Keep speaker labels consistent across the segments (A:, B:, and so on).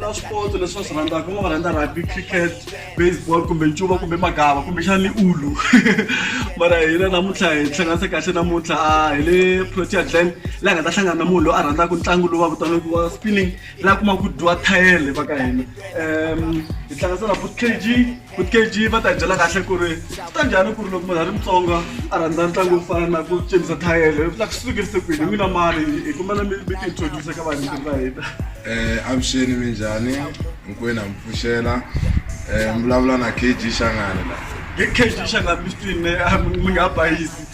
A: na swipotso leswi va swi rhandzaka va va rhandza rugby cricket baseball kumbe ncuva kumbe magava kumbexani ulu mara hina namuntlha hi hlanganise kahle namuntlha hi le protea glen laha hi nga ta hlangana na munhu loyi a rhandzaka ntlangu lowu va vitanaka wa spinning la kuma ku dyiwa thayele va ka hina um hi tlangasela food k g food k g va ta hi byela kahle ku ri ta njhani ku ri loko munhu a ri mutsonga a rhandza ntlangu wo fana na ku cinisa thayele la ku sukerise kwini n'wina mali hi kumela mi mi tiintroduce ka vanhu va hina um avuxeni
B: mi njhani hinkwenu ha mi pfuxela um vulavula na k g xangani la hi k g xana
A: mi swi twini mi nga bayisi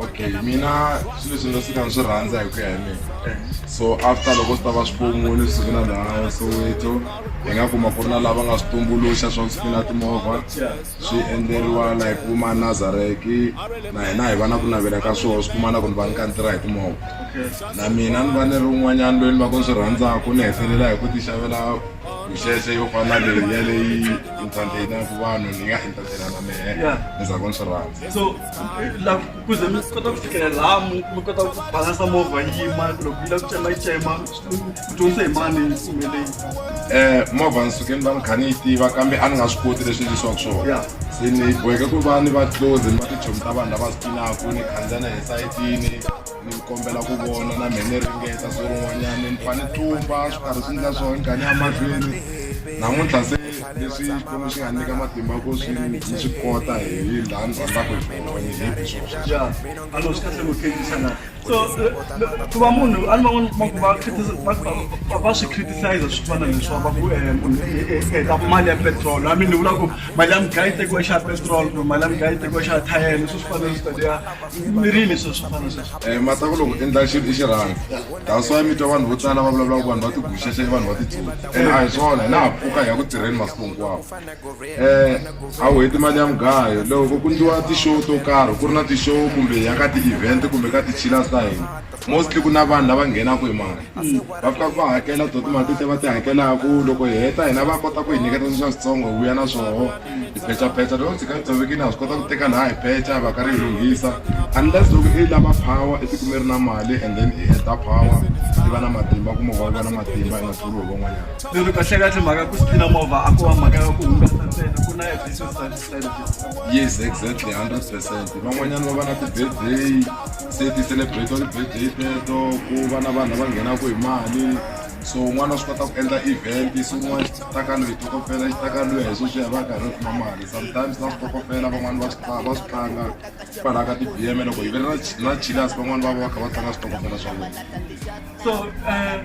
B: okay mina swilo leswi ndzi fika ni swi rhandza hi ku ya hi mina so after loko swi ta va swipomu leswi swi na laha soweto hi nga kuma ku ri na lava nga swi tumbuluxa swa ku swi na timovha swi endleriwa la hi kuma nazareki na hina hi va na ku navela ka swona swi kuma na ku ni va ni ka ni tirha hi timovha na mina ni va ni ri un'wanyana loyi ni va ku ni swi rhandzaka ni hetelela hi ku ti xavela mixexe yo fana leyi ya leyi entertainaka vanhu ni nga entertaina na mehe ni za ku ni swi rhandza
A: Kuze mi kota ku fikela laha mi mi kota ku balansa movha yi yima loko yi lava ku chema yi chema ku dyondzisa hi mani yi sumeleyi um movha ni suke ni va
B: ni kha ni yi tiva kambe a ni nga swi koti leswi endlisiwaka swona Yeah. se ni boheke ku va ni va close ni va tichomi ta vanhu lava spinaku ni khandziya na esayitini ni kombela ku vona na mhe ni ringeta so rin'wanyana ni fa ni tlumba swi karhi swi ndla swona ni gani ya mahlweni namuntlha se Leswi Xikwembu xi nga nyika matimba ku swi mi swi kota hi laha ni rhandzaka hi kona ni hi hi swona ya ano swi kahle ku
A: khenjisa na so eh, ku va munhu a ni van'wana kuma ku va critisa- va- va- va- va swi criticize swi fana leswiwa va ku eh, munhu eh, eh, eh, ta mali ya petrol a mi ni vula ku mali ya mugayi tekiwa xa petrol kumbe mali ya mugayi tekiwa xa thayele swi swi fana leswi tadiya mirini sweswo swi fana sweswo um mata ku loko u endla xilo
B: i xirhanga that's why mi twa vanhu vo tala va vulavulaka ku vanhu va tiguxexe vanhu va titsotsi ene a hi swona hi laha pfuka hi ya ku tirheni masiku hinkwawo um a wu heti mali ya mugayo loko ku ndliwa ti-show to karhi ku ri na ti-show kumbe ya ka ti-event kumbe ka ti-chillers ta hina mostly ku na vanhu lava nghenaka hi mali va fika va hakela to timali tete va ti hakelaka loko hi heta hina va kota ku hi nyiketa sweswa switsongo hi vuya na swoho tiphechaphecha loko ndzi nga tshoveki na swi kota ku teka laha hi phecha va ka ri lunghisa unless loko i lava power etiko mi ri na mali and then i heta power i va na matimba ku movha va na matimba i nga tluli hi van'wanyana lero kahlekahle mhaka
A: ku sipina movha a ko va mhaka ya ku hungasa ntsena ku na yes exactly
B: hundred percent van'wanyana va va na ti-birthday se ti-celebrate wa ti-birthday teto ku va na vanhu lava nghenaka hi mali so un'wana wa swi kota ku endla event so un'wana xi ta ka loyi tokofela xi ta ka loyi hi sweswi ya va karhi kuma mali sometimes na switokofela van'wana va swi va swi tlanga kwalaha ka ti-b m loko hi ve na na chilas van'wana va va va kha va tlanga switokofela swa vona so
A: eh,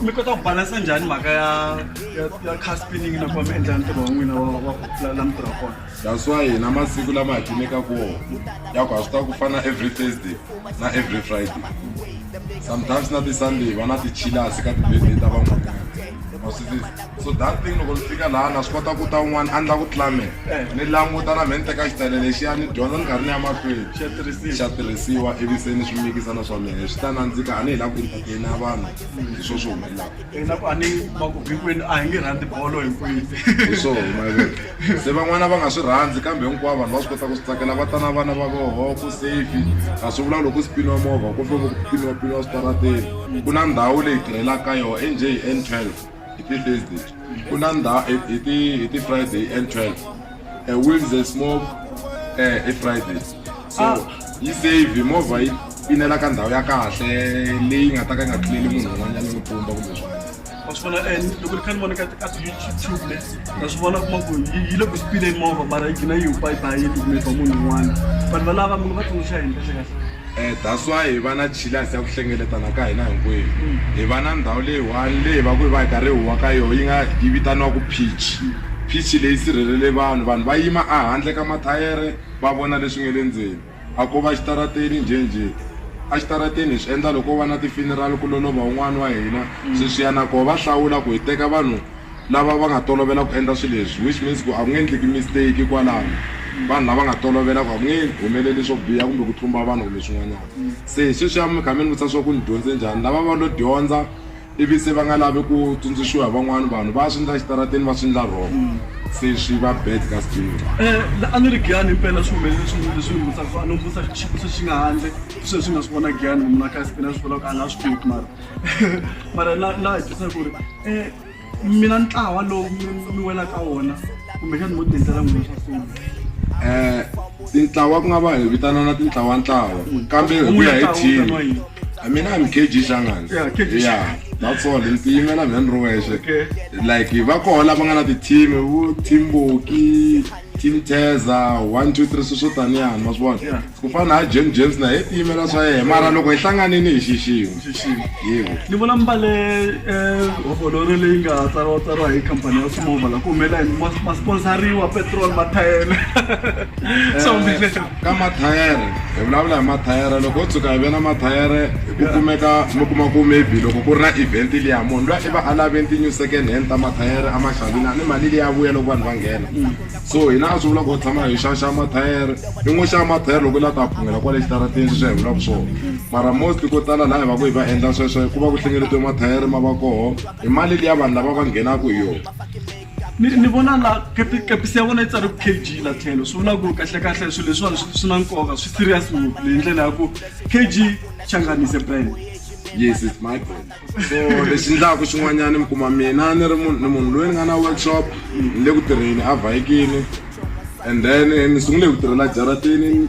A: mi kota ku balansa njhani mhaka ya ya ya car spinning nakona mi endla ntirho wa n'wina wa wa la mi tirha kona That's why hina masiku
B: lama hi cinekaka wona ya ku ha swi ta ku fana every Thursday na every Friday sometimes na ti-Sunday va na ti-chillers ka ti-birthday ta van'wanyana so that thing loko ni fika laha na swi kota ku ta un'wana a ni la ku tlamela eh. ni languta na mheni teka xitsele lexiya ni dyondza ni karhi ni ya mahlweni xa tirhisiwa ivi se ni swi mikisa na swa mina swi ta nandzika a ni hi la ku entertaina vanhu hi swo swi humelaka ina ku a ni va ku
A: vhikweni a hi nge rhandzi bolo hinkwini hi swo humelela
B: se van'wana va nga swi rhandzi kambe hinkwavo vanhu va swi kota ku swi tsakela va ta na vana va voho ku safe a swi vula loko swi piniwa movha kumbe ku piniwa piniwa switarateni ku na ndhawu leyi tirhelaka ka yona enj hi n twelve hi ti-thursday ku na ndhawu hi ti hi ti-friday hi n twelve a Wednesday smoke uh, a Friday so ah. yi save movha yi pinela ka ndhawu ya kahle leyi nga ta ka yi nga tluleli munhu un'wanyana ni pumba kumbe swona wa swi vona and
A: loko ni kha ni vona ka ka youtube le na swi vona kuma ku yi le ku spileni movha mara yi gina yi hupa yi bayini kumbe ba munhu un'wana vanhu valava munhu va tsundzuxa hi ndlela kahle Eh, that's why hi va na
B: jealous ya ku hlengeletana ka hina hinkwenu. Hi va na ndhawu leyi one leyi va ku hi va hi karhi hi huwa ka yona yi nga yi vitaniwaka pitch. Pitch leyi sirhelele vanhu, vanhu va yima a handle ka mathayere va vona leswi nga le ndzeni. A ko va xitarateni njhenjhe. A xitarateni hi swi endla loko ko va na ti-funeral ku lolova un'wana wa hina, sweswiyana koho va hlawula ku hi teka vanhu lava va nga tolovela ku endla swilo leswi which means ku a ku nge endleki mistake kwalano vanhu lava nga tolovela ku a ku nge humeleli swo biha kumbe ku tlumba vanhu kumbe swin'wanyana se hi sweswiya mi kha mi ni vutisa swa ku ni dyondze njhani lava va lo dyondza ivi se va nga lavi ku tsundzuxiwa hi van'wana vanhu va swi ndla xitarateni va swi ndla wrong se swi va bad ka sijinga eh, a ni ri
A: giyani impela swi humelele swin'wana leswi ni vutisa a ni vutisa xivutiso xi nga handle sweswi swi nga swi vona giyani mina kasi pina swi vulaka a na swi tivi mara mara na na hi tisa ku ri um mina ntlawa lowu mi wela ka wona kumbexani mo tendlela n'wina swa foni um tintlawa ku nga
B: va hi vitanana tintlawantlawa mm. kambe hi ku ya hi team a mina hi mkg xangani ya natsol ni tiyimela mina ni ri wexe like va koho lava nga na ti-team vo team boki Team Teza 1 2 3 swi swo taniya ma swi vona yeah. ku fana na James James na hi tiyimela swa yena mara loko hi hlanganini hi xixima xixima yebo ni vona mbale
A: eh hovoloro leyi nga tsariwa tsariwa hi company ya Smova la ku humela ma sponsoriwa petrol mathayele so mbile Ka mathayere
B: hi vulavula hi mathayere loko ho tshuka hi ve na mathayere ku kumeka mi kuma ku maybe loko ku ri na event liya munhu luya i va a lave ti-new second hand ta mathayere a ma xavini a ni mali liya vuya loko vanhu va nghena so hina a swi vula ku hi tshama hi xaxa mathayere i ngo xava mathayere loko u la ta phungela kwale xitarateni sweswi a hi vulaka swona mara most ko tala laha hi va ku hi va endla sweswo ku va ku hlengeletiwe mathayere ma va koho hi mali liya vanhu lava va nghenaka hi yona ni ni
A: vona la kepi kepisi ya vona yi tsari kg la tlhelo swi vula ku kahlekahle swilo leswiwani swi na nkoka swi serious ngopfu leyi ndlela ya ku kg changanise brand yes it's my
B: brand so lexi ndlaku xin'wanyana mi kuma mina ni ri munhu ni munhu loyi ni nga na workshop ni le ku tirheni a vhayikini and then ni sungule hi ku tirhela jaratini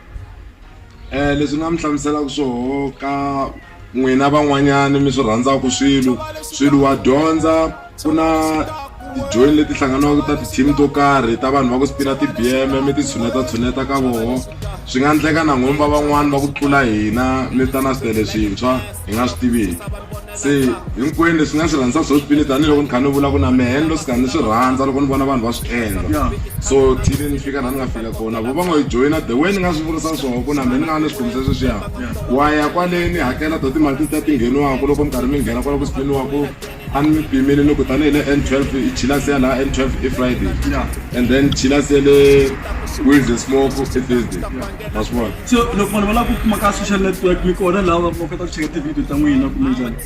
B: leswi nga mi hlamuselaka swoho ka n'wina van'wanyana mi swi rhandzaka swilo swilo wa dyondza ku na tijoyini leti hlanganaka ta ti-team to karhi ta vanhu va ku spina ti-bm mi ti tshuneta tshuneta ka voho swi nga endleka na n'wina va van'wani va ku tlula hina mi ta na switele swintshwa hi nga swi tiviki se hinkwenu leswi nga swi rhandza swo swipile tanihiloko ni kha ni vula ku na mehe ni lo sika ni swi rhandza loko ni vona vanhu va swi endla so thile ni fika laha ni nga fika kona vo va ngo yi joyina the way ni nga swi vurisa swona ku na mehe ni nga ni swikhumisa sweswiya wa ya kwale ni hakela to timali ta ti ngheniwaka loko mi karhi mi nghena kwala ku spiniwaku a ni mi pimile ni ku tanihi le n twelve i chilasi ya laha n twelve i friday and then chilasi ya le wednesday smoke i thursday maswona se loko vanhu va lava ku kuma
A: ka social network mi kona laha va kota ku cheka tivhidiyo ta n'wina kumbe njhani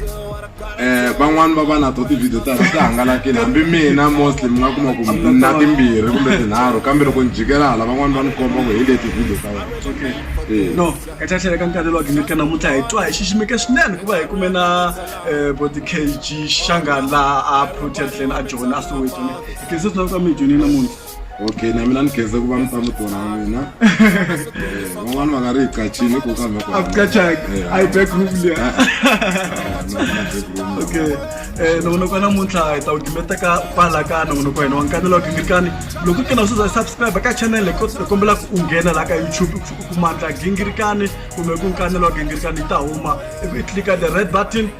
A: um
B: van'wani va va na to tivhidiyo ta ti hangalakile hambi mina mostly mi nga kuma ku na timbirhi kumbe tinharhu kambe loko ni jikela hala van'wani va ni komba ku hi le tivhidiyo ta wena okay Eh. no
A: ka ta tlhela ka nkarhi lowa gimika namuntlha hi twa hi xiximeke swinene ku va hi kume na um bo ti-kg xanga laha a proteadlen a jona a soweto ne hi khense swinene ka mi hi dyonile namuntlha okay
B: na mina ni khenze ku va mi ta mutona wa mina Eh, van'wana va nga ri hi qachile ku kambe ku akucachanga Eh, ayi
A: back room liya ah, ah, no, no, back room. okay eh loko noko namuntlha hi ta wu dimeteka kwala ka nongonoko hina wa nkanelo wa gingirikani loko kena u suza subscribe ka channel hi ko- hi kombela ku u nghena la ka youtube u ku- u kuma ndla gingirikani kumbe ku nkanelo wa gingirikani yi ta huma ivi i tlika the red button